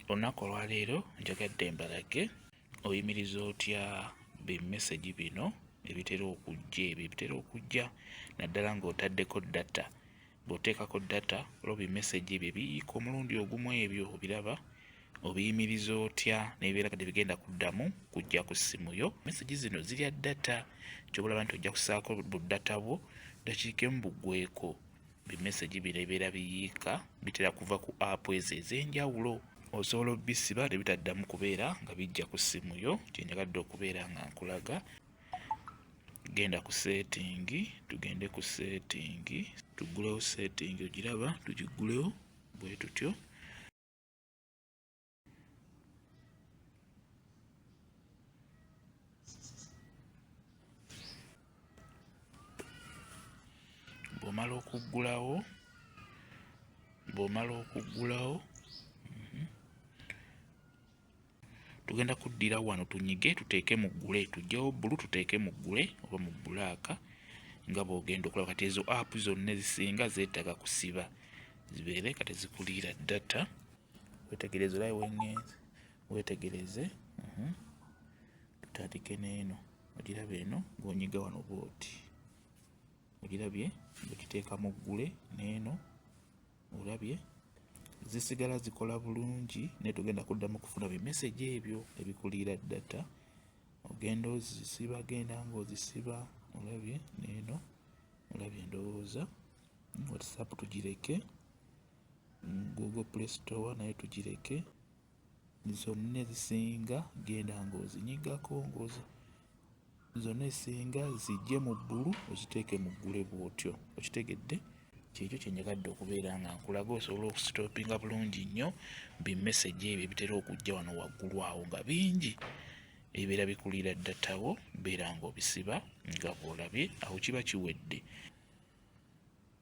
Olunaku olwaleero njagadde mbalage oyimiriza otya bimesegi bino ebitera okujja ebyo ebitera okujja naddala ng'otaddeko data bw'oteekako data olwo bimesegi ebyo ebiyiika omulundi ogumu ebyo obiraba obiyimiriza otya nebibeera kati bigenda kuddamu kujja ku ssimu yo mesegi zino zirya data kyobalaba nti ojja kusaako bu data bwo dakiika emu bugweko bimesegi bino ebibeera biyiika bitera kuva ku apu ezo ez'enjawulo osobola obisiba ne bitaddamu kubeera nga bijja ku ssimu yo kyenjagadde okubeera nga nkulaga genda ku seetingi tugende ku seetingi tuggulewo seetingi ogiraba tugiggulewo bwe tutyo bw'omala okuggulawo bw'omala okuggulawo mhm, tugenda kuddira wano tunyige tuteeke mu ggule tujjewo bbulu tuteeke mu ggule oba mu bbulaaka nga bw'ogenda okulaba kati ezo app zonna ezisinga zeetaaga kusiba zibeere kati zikuliira data wetegereze olai wengenze wetegereze mhm. tutandike neeno ogiraba eno gonyiga wano booti ogirabye okiteeka mu ggule neeno olabye zisigala zikola bulungi naye tugenda kuddamu kufuna bimesegi ebyo ebikuliira data ogenda ozisiba genda ngaozisiba olabye neeno olabye endowooza whatsapp tugireke Google play store nayo tugireke zonna ezisinga genda ng'ozinyigako ngozi zonna ezisinga zijje mu bbulu oziteeke mu ggule bw'otyo okitegedde kyekyo kyenjagadde okubeera nga nkulaga osobola okusitopinga bulungi nnyo bimesegi ebyo ebitera okujja wano waggulu awo nga bingi ebibeera bikulira ddatawo beera ng'obisiba nga bw'olabye awo kiba kiwedde